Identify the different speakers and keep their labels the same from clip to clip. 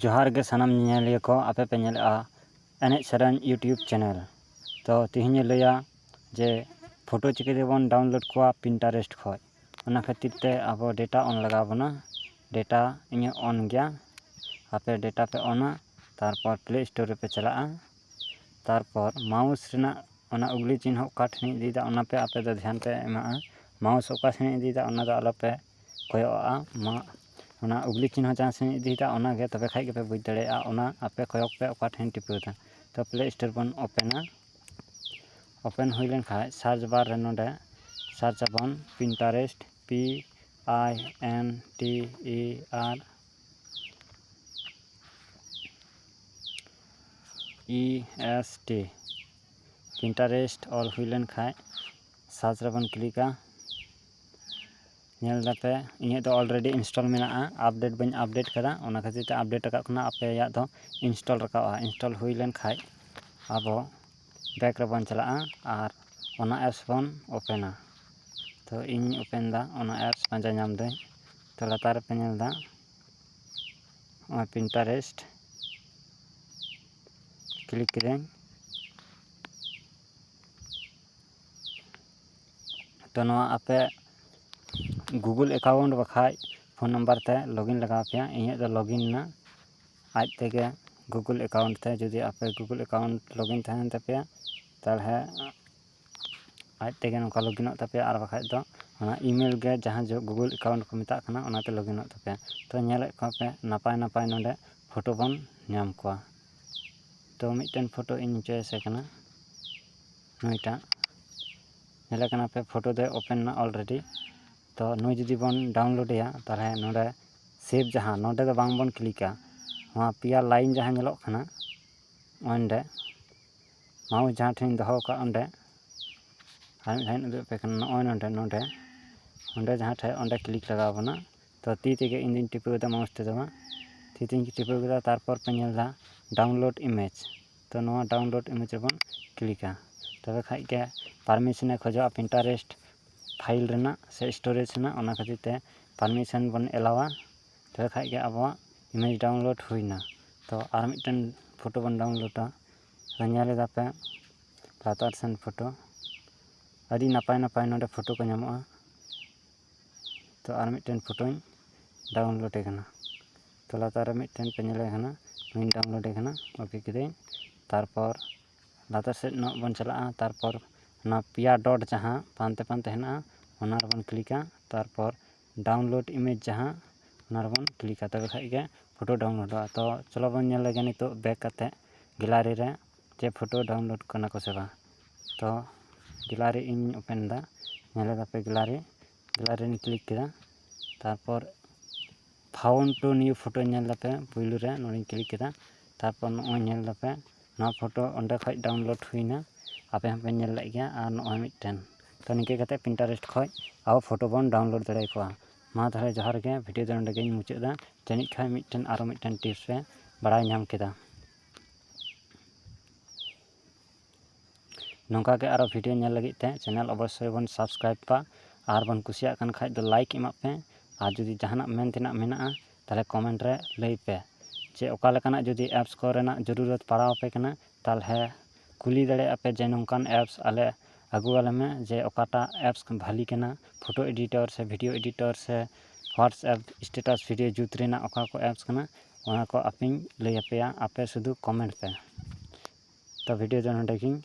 Speaker 1: ᱡᱚᱦᱟᱨ ᱜᱮ ᱥᱟᱱᱟᱢ ᱧᱮᱧᱮᱞᱤᱭᱟᱹ ᱠᱚ ᱟᱯᱮ ᱯᱮ ᱧᱮᱞᱮᱜᱼᱟ ᱮᱱᱮᱡ ᱥᱮᱨᱮᱧ ᱤᱭᱩᱴᱩᱵᱽ ᱪᱮᱱᱮᱞ ᱛᱚ ᱛᱮᱦᱮᱧ ᱤᱧ ᱞᱟᱹᱭᱟ ᱡᱮ ᱯᱷᱳᱴᱳ ᱪᱤᱠᱟᱹ ᱛᱮᱵᱚᱱ ᱰᱟᱣᱩᱱᱞᱳᱰ ᱠᱚᱣᱟ ᱯᱤᱱᱴᱟᱨᱮᱥᱴ ᱠᱷᱚᱡ ᱚᱱᱟ ᱠᱷᱟᱹᱛᱤᱨ ᱛᱮ ᱟᱵᱚ ᱰᱮᱴᱟ ᱚᱱ ᱞᱟᱜᱟᱣ ᱵᱚᱱᱟ ᱰᱮᱴᱟ ᱤᱧᱟᱹᱜ ᱚᱱ ᱜᱮᱭᱟ ᱟᱯᱮ ᱰᱮᱴᱟ ᱯᱮ ᱚᱱᱟ ᱛᱟᱨᱯᱚᱨ ᱯᱞᱮ ᱥᱴᱳᱨ ᱨᱮᱯᱮ ᱪᱟᱞᱟᱜᱼᱟ ᱛᱟᱨᱯᱚᱨ ᱢᱟᱣᱩᱥ ᱨᱮᱱᱟᱜ ᱚᱱᱟ ᱩᱜᱽᱞᱤ ᱪᱤᱱᱦᱟᱹ ᱚᱠᱟ ᱴᱷᱮᱱᱤᱧ ᱤᱫᱤᱭᱫᱟ ᱚᱱᱟ ᱯᱮ ᱟᱯᱮ ᱫᱚ ᱫᱷᱮᱭᱟᱱ ᱯᱮ ᱮᱢᱟᱜᱼᱟ ᱢᱟᱣᱩᱥ ᱚᱠᱟ ᱥᱮᱱᱤᱧ ᱤᱫᱤᱭᱫᱟ ᱚᱱᱟ ᱫᱚ ᱟᱞᱚ ᱯᱮ ᱠᱚᱭᱚᱜᱼᱟ ᱢᱟ ᱚᱱᱟ ᱩᱜᱽᱞᱤ ᱪᱤᱱᱦᱟᱹ ᱡᱟᱦᱟᱸ ᱥᱮᱫ ᱤᱧ ᱤᱫᱤᱭᱮᱫᱟ ᱚᱱᱟᱜᱮ ᱛᱚᱵᱮ ᱠᱷᱟᱱ ᱜᱮᱯᱮ ᱵᱩᱡᱽ ᱫᱟᱲᱮᱭᱟᱜᱼᱟ ᱚᱱᱟ ᱟᱯᱮ ᱠᱚᱭᱚᱜᱽ ᱯᱮ ᱚᱠᱟ ᱴᱷᱮᱱᱤᱧ ᱴᱤᱯᱟᱹᱣ ᱮᱫᱟ ᱛᱚ ᱯᱞᱮ ᱥᱴᱳᱨ ᱵᱚᱱ ᱳᱯᱮᱱᱟ ᱳᱯᱮᱱ ᱦᱩᱭ ᱞᱮᱱᱠᱷᱟᱱ ᱥᱟᱨᱪ ᱵᱟᱨ ᱨᱮ ᱱᱚᱰᱮ ᱥᱟᱨᱪ ᱟᱵᱚᱱ Pinterest P I N T E R E S T Pinterest ᱚᱞ ᱦᱩᱭ ᱞᱮᱱᱠᱷᱟᱱ ᱥᱟᱨᱪ ᱨᱮᱵᱚᱱ ᱠᱞᱤᱠᱟ ᱧᱮᱞ ᱫᱟᱯᱮ ᱤᱧᱟᱹᱜ ᱫᱚ ᱚᱞᱨᱮᱰᱤ ᱤᱱᱥᱴᱚᱞ ᱢᱮᱱᱟᱜᱼᱟ ᱟᱯᱰᱮᱴ ᱵᱟᱹᱧ ᱟᱯᱰᱮᱴ ᱠᱟᱫᱟ ᱚᱱᱟ ᱠᱷᱟᱹᱛᱤᱨ ᱛᱮ ᱟᱯᱰᱮᱴ ᱨᱟᱠᱟᱵ ᱠᱟᱱᱟ ᱟᱯᱮᱭᱟᱜ ᱫᱚ ᱤᱱᱥᱴᱚᱞ ᱨᱟᱠᱟᱵᱼᱟ ᱤᱱᱥᱴᱚᱞ ᱦᱩᱭ ᱞᱮᱱᱠᱷᱟᱱ ᱟᱵᱚ ᱵᱮᱠ ᱨᱮᱵᱚᱱ ᱪᱟᱞᱟᱜᱼᱟ ᱟᱨ ᱚᱱᱟ ᱮᱯᱥ ᱵᱚᱱ ᱳᱯᱮᱱᱟ ᱛᱳ ᱤᱧ ᱳᱯᱮᱱ ᱫᱟ ᱚᱱᱟ ᱮᱯᱥ ᱯᱟᱸᱡᱟ ᱧᱟᱢ ᱫᱟᱹᱧ ᱛᱳ ᱞᱟᱛᱟᱨ ᱨᱮᱯᱮ ᱧᱮᱞ ᱫᱟ ᱱᱚᱜᱼᱚᱭ ᱯᱤᱱᱴᱟᱨᱮᱥᱴ ᱠᱞᱤᱠ ᱠᱤᱫᱟᱹᱧ ᱛᱚ ᱱᱚᱣᱟ ᱟᱯᱮ ᱜᱩᱜᱩᱞ ᱮᱠᱟᱣᱩᱱᱴ ᱵᱟᱠᱷᱟᱡ ᱯᱷᱳᱱ ᱱᱟᱢᱵᱟᱨ ᱛᱮ ᱞᱚᱜᱤᱱ ᱞᱟᱜᱟᱣ ᱟᱯᱮᱭᱟ ᱤᱧᱟᱹᱜ ᱫᱚ ᱞᱚᱜᱤᱱ ᱮᱱᱟ ᱟᱡ ᱛᱮᱜᱮ ᱜᱩᱜᱩᱞ ᱮᱠᱟᱣᱩᱱᱴ ᱛᱮ ᱡᱩᱫᱤ ᱟᱯᱮ ᱜᱩᱜᱩᱞ ᱮᱠᱟᱣᱩᱱᱴ ᱞᱚᱜᱤᱱ ᱛᱟᱦᱮᱱ ᱛᱟᱯᱮᱭᱟ ᱛᱟᱦᱚᱞᱮ ᱟᱡ ᱛᱮᱜᱮ ᱱᱚᱝᱠᱟ ᱞᱚᱜᱤᱱᱚᱜ ᱛᱟᱯᱮᱭᱟ ᱟᱨ ᱵᱟᱠᱷᱟᱡ ᱫᱚ ᱚᱱᱟ ᱤᱼᱢᱮᱞ ᱜᱮ ᱡᱟᱦᱟᱸ ᱡᱚᱦᱚᱜ ᱜᱩᱜᱩᱞ ᱮᱠᱟᱣᱩᱱᱴ ᱠᱚ ᱢᱮᱛᱟᱜ ᱠᱟᱱᱟ ᱚᱱᱟᱛᱮ ᱞᱚᱜᱤᱱᱚᱜ ᱛᱟᱯᱮᱭᱟ ᱛᱚ ᱧᱮᱞᱮᱫ ᱠᱚᱣᱟ ᱯᱮ ᱱᱟᱯᱟᱭ ᱱᱟᱯᱟᱭ ᱱᱚᱰᱮ ᱯᱷᱳᱴᱳ ᱵᱚᱱ ᱧᱟᱢ ᱠᱚᱣᱟ ᱛᱚ ᱢᱤᱫᱴᱮᱱ ᱯᱷᱳᱴᱳ ᱤᱧ ᱪᱚᱭᱮᱥᱮ ᱠᱟᱱᱟ ᱱᱩᱭᱴᱟᱜ ᱧᱮᱞᱮ ᱠᱟᱱᱟᱯᱮ ᱯᱷᱳᱴᱳ ᱫᱚᱭ ᱳᱯᱮᱱ ᱮᱱᱟ ᱚᱞᱨᱮᱰᱤ ᱛᱚ ᱱᱩᱭ ᱡᱩᱫᱤ ᱵᱚᱱ ᱰᱟᱣᱩᱱᱞᱳᱰ ᱮᱭᱟ ᱛᱟᱦᱚᱞᱮ ᱱᱚᱰᱮ ᱥᱮᱵᱷ ᱡᱟᱦᱟᱸ ᱱᱚᱰᱮ ᱫᱚ ᱵᱟᱝ ᱵᱚᱱ ᱠᱞᱤᱠᱟ ᱱᱚᱣᱟ ᱯᱮᱭᱟ ᱞᱟᱭᱤᱱ ᱡᱟᱦᱟᱸ ᱧᱮᱞᱚᱜ ᱠᱟᱱᱟ ᱚᱸᱰᱮ ᱢᱟᱣᱩᱥ ᱡᱟᱦᱟᱸ ᱴᱷᱮᱱᱤᱧ ᱫᱚᱦᱚ ᱟᱠᱟᱫ ᱚᱸᱰᱮ ᱟᱨ ᱢᱤᱫ ᱫᱷᱟᱣᱤᱧ ᱩᱫᱩᱜ ᱟᱯᱮ ᱠᱟᱱᱟ ᱱᱚᱜᱼᱚᱭ ᱱᱚᱰᱮ ᱱᱚᱰᱮ ᱚᱸᱰᱮ ᱡᱟᱦᱟᱸ ᱴᱷᱮᱱ ᱚᱸᱰᱮ ᱠᱞᱤᱠ ᱞᱟᱜᱟᱣ ᱵᱚᱱᱟ ᱛᱚ ᱛᱤ ᱛᱮᱜᱮ ᱤᱧ ᱫᱚᱧ ᱴᱤᱯᱟᱹᱣ ᱮᱫᱟ ᱢᱟᱣᱩᱥ ᱛᱮᱫᱚ ᱵᱟᱝ ᱛᱤ ᱛᱮᱧ ᱴᱤᱯᱟᱹᱣ ᱠᱮᱫᱟ ᱛᱟᱨᱯᱚᱨ ᱯᱮ ᱧᱮᱞ ᱮᱫᱟ ᱰᱟᱣᱩᱱᱞᱳᱰ ᱤᱢᱮᱡᱽ ᱛᱚ ᱱᱚᱣᱟ ᱰᱟᱣᱩᱱᱞᱳᱰ ᱤᱢᱮᱡᱽ ᱨᱮᱵᱚᱱ ᱠᱞᱤᱠᱟ ᱛᱚᱵᱮ ᱠᱷᱟᱱ ᱜᱮ ᱯᱟᱨᱢᱤᱥᱚᱱᱮ ᱠᱷᱚᱡᱚᱜᱼᱟ ᱯᱤᱱᱴᱟᱨᱮᱥᱴ ᱯᱷᱟᱭᱤᱞ ᱨᱮᱱᱟᱜ ᱥᱮ ᱥᱴᱳᱨᱮᱡᱽ ᱨᱮᱱᱟᱜ ᱚᱱᱟ ᱠᱷᱟᱹᱛᱤᱨ ᱛᱮ ᱯᱟᱨᱢᱤᱥᱚᱱ ᱵᱚᱱ ᱮᱞᱟᱣᱟ ᱛᱚᱵᱮ ᱠᱷᱟᱱ ᱜᱮ ᱟᱵᱚᱣᱟᱜ ᱤᱢᱮᱡᱽ ᱰᱟᱣᱩᱱᱞᱳᱰ ᱦᱩᱭᱮᱱᱟ ᱛᱚ ᱟᱨ ᱢᱤᱫᱴᱮᱱ ᱯᱷᱳᱴᱳ ᱵᱚᱱ ᱰᱟᱣᱩᱱᱞᱳᱰᱟ ᱛᱚ ᱧᱮᱞ ᱮᱫᱟ ᱯᱮ ᱞᱟᱛᱟᱨ ᱥᱮᱱ ᱯᱷᱳᱴᱳ ᱟᱹᱰᱤ ᱱᱟᱯᱟᱭ ᱱᱟᱯᱟᱭ ᱱᱚᱰᱮ ᱯᱷᱳᱴᱳ ᱠᱚ ᱧᱟᱢᱚᱜᱼᱟ ᱛᱚ ᱟᱨ ᱢᱤᱫᱴᱮᱱ ᱯᱷᱳᱴᱳᱧ ᱰᱟᱣᱩᱱᱞᱳᱰᱮ ᱠᱟᱱᱟ ᱛᱚ ᱞᱟᱛᱟᱨ ᱨᱮ ᱢᱤᱫᱴᱮᱱ ᱯᱮ ᱧᱮᱞᱮ ᱠᱟᱱᱟ ᱚᱱᱟᱧ ᱰᱟᱣᱩᱱᱞᱳᱰᱮ ᱠᱟᱱᱟ ᱳᱠᱮ ᱠᱤᱫᱟᱹᱧ ᱛᱟᱨᱯᱚᱨ ᱞᱟᱛᱟᱨ ᱥᱮᱫ ᱧᱚᱜ ᱵᱚᱱ ᱪᱟᱞᱟᱜᱼᱟ ᱛᱟᱨᱯᱚᱨ ᱚᱱᱟ ᱯᱮᱭᱟ ᱰᱚᱴ ᱡᱟᱦᱟᱸ ᱯᱟᱱᱛᱮ ᱯᱟᱱᱛᱮ ᱦᱮᱱᱟᱜᱼᱟ ᱚᱱᱟ ᱨᱮᱵᱚᱱ ᱠᱞᱤᱠᱟ ᱛᱟᱨᱯᱚᱨ ᱰᱟᱣᱩᱱᱞᱳᱰ ᱤᱢᱮᱡᱽ ᱡᱟᱦᱟᱸ ᱚᱱᱟ ᱨᱮᱵᱚᱱ ᱠᱞᱤᱠᱟ ᱛᱚᱵᱮ ᱠᱷᱟᱱ ᱜᱮ ᱯᱷᱳᱴᱳ ᱰᱟᱣᱩᱱᱞᱳᱰᱚᱜᱼᱟ ᱛᱚ ᱪᱚᱞᱚ ᱵᱚᱱ ᱧᱮᱞ ᱞᱮᱜᱮ ᱱᱤᱛᱚᱜ ᱵᱮᱠ ᱠᱟᱛᱮᱫ ᱜᱮᱞᱟᱨᱤ ᱨᱮ ᱪᱮ ᱯᱷᱳᱴᱳ ᱰᱟᱣᱩᱱᱞᱳᱰ ᱠᱟᱱᱟ ᱠᱚᱥᱮ ᱵᱟᱝ ᱛᱚ ᱜᱮᱞᱟᱨᱤ ᱤᱧ ᱳᱯᱮᱱ ᱮᱫᱟ ᱧᱮᱞ ᱮᱫᱟᱯᱮ ᱜᱮᱞᱟᱨᱤ ᱜᱮᱞᱟᱨᱤᱧ ᱠᱞᱤᱠ ᱠᱮᱫᱟ ᱛᱟᱨᱯᱚᱨ ᱯᱷᱟᱣᱩᱱ ᱴᱩ ᱱᱤᱭᱩ ᱯᱷᱳᱴᱳ ᱧᱮᱞ ᱮᱫᱟᱯᱮ ᱯᱳᱭᱞᱳ ᱨᱮ ᱱᱚᱰᱮᱧ ᱠᱞᱤᱠ ᱠᱮᱫᱟ ᱛᱟᱨᱯᱚᱨ ᱱᱚᱜᱼᱚᱭ ᱧᱮᱞ ᱮᱫᱟᱯᱮ ᱱᱚᱣᱟ ᱯᱷᱳᱴᱳ ᱚᱸᱰᱮ ᱠᱷᱚᱱ ᱰᱟᱣᱩᱱᱞᱳᱰ ᱦᱩᱭ ᱮᱱᱟ ᱟᱯᱮ ᱦᱚᱸᱯᱮ ᱧᱮᱞ ᱞᱮᱫ ᱜᱮᱭᱟ ᱟᱨ ᱱᱚᱜᱼᱚᱭ ᱢᱤᱫᱴᱮᱱ ᱛᱚ ᱱᱤᱝᱠᱟᱹ ᱠᱟᱛᱮᱫ ᱯᱤᱱᱴᱟᱨᱮᱥᱴ ᱠᱷᱚᱱ ᱟᱵᱚ ᱯᱷᱳᱴᱳ ᱵᱚᱱ ᱰᱟᱣᱩᱱᱞᱳᱰ ᱫᱟᱲᱮ ᱟᱠᱚᱣᱟ ᱢᱟ ᱛᱟᱦᱚᱞᱮ ᱡᱚᱦᱟᱨ ᱜᱮ ᱵᱷᱤᱰᱭᱳ ᱫᱚ ᱱᱚᱰᱮ ᱜᱮᱧ ᱢᱩᱪᱟᱹᱫ ᱮᱫᱟ ᱡᱟᱹᱱᱤᱡ ᱠᱷᱟᱱ ᱢᱤᱫᱴᱮᱱ ᱟᱨᱚ ᱢᱤᱫᱴᱮᱱ ᱴᱤᱯᱥ ᱯᱮ ᱵᱟᱲᱟᱭ ᱧᱟᱢ ᱠᱮᱫᱟ ᱱᱚᱝᱠᱟ ᱜᱮ ᱟᱨᱚ ᱵᱷᱤᱰᱭᱳ ᱧᱮᱞ ᱞᱟᱹᱜᱤᱫ ᱛᱮ ᱪᱮᱱᱮᱞ ᱚᱵᱚᱥᱥᱳᱭ ᱵᱚᱱ ᱥᱟᱵᱥᱠᱨᱟᱭᱤᱵᱽ ᱠᱟᱜᱼᱟ ᱟᱨ ᱵᱚᱱ ᱠᱩᱥᱤᱭᱟᱜ ᱠᱟᱱ ᱠᱷᱟᱱ ᱫᱚ ᱞᱟᱭᱤᱠ ᱮᱢᱟᱜ ᱯᱮ ᱟᱨ ᱡᱩᱫᱤ ᱡᱟᱦᱟᱱᱟᱜ ᱢᱮᱱ ᱛᱮᱱᱟᱜ ᱢᱮᱱᱟᱜᱼᱟ ᱛᱟᱦᱚᱞᱮ ᱠᱚᱢᱮᱱᱴ ᱨᱮ ᱞᱟᱹᱭ ᱯᱮ ᱡᱮ ᱚᱠᱟ ᱞᱮᱠᱟᱱᱟᱜ ᱡᱩᱫᱤ ᱮᱯᱥ ᱠᱚᱨᱮᱱᱟᱜ ᱡᱩᱨᱩᱨᱚᱛ ᱯᱟᱲᱟᱣ ᱟᱯᱮ ᱠᱟᱱᱟ ᱛᱟᱦᱚᱞᱮ ᱠᱩᱞᱤ ᱫᱟᱲᱮᱭᱟᱜᱼᱟ ᱯᱮ ᱡᱮ ᱱᱚᱝᱠᱟᱱ ᱮᱯᱥ ᱟᱞᱮ ᱟᱹᱜᱩ ᱟᱞᱮ ᱢᱮ ᱡᱮ ᱚᱠᱟᱴᱟᱜ ᱮᱯᱥ ᱵᱷᱟᱹᱞᱤ ᱠᱟᱱᱟ ᱯᱷᱳᱴᱳ ᱮᱰᱤᱴᱚᱨ ᱥᱮ ᱵᱷᱤᱰᱭᱳ ᱮᱰᱤᱴᱚᱨ ᱥᱮ ᱦᱳᱣᱟᱴᱥᱮᱯ ᱥᱴᱮᱴᱟᱥ ᱵᱷᱤᱰᱭᱳ ᱡᱩᱛ ᱨᱮᱱᱟᱜ ᱚᱠᱟ ᱠᱚ ᱮᱯᱥ ᱠᱟᱱᱟ ᱚᱱᱟ ᱠᱚ ᱟᱯᱮᱧ ᱞᱟᱹᱭ ᱟᱯᱮᱭᱟ ᱟᱯᱮ ᱥᱩᱫᱩ ᱠᱚᱢᱮᱱᱴ ᱯᱮ ᱛᱚ ᱵᱷᱤᱰᱭᱳ ᱫᱚ ᱱᱚᱰᱮ ᱜᱮᱧ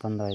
Speaker 1: ᱵᱚᱱᱫᱚᱭᱮᱫᱟ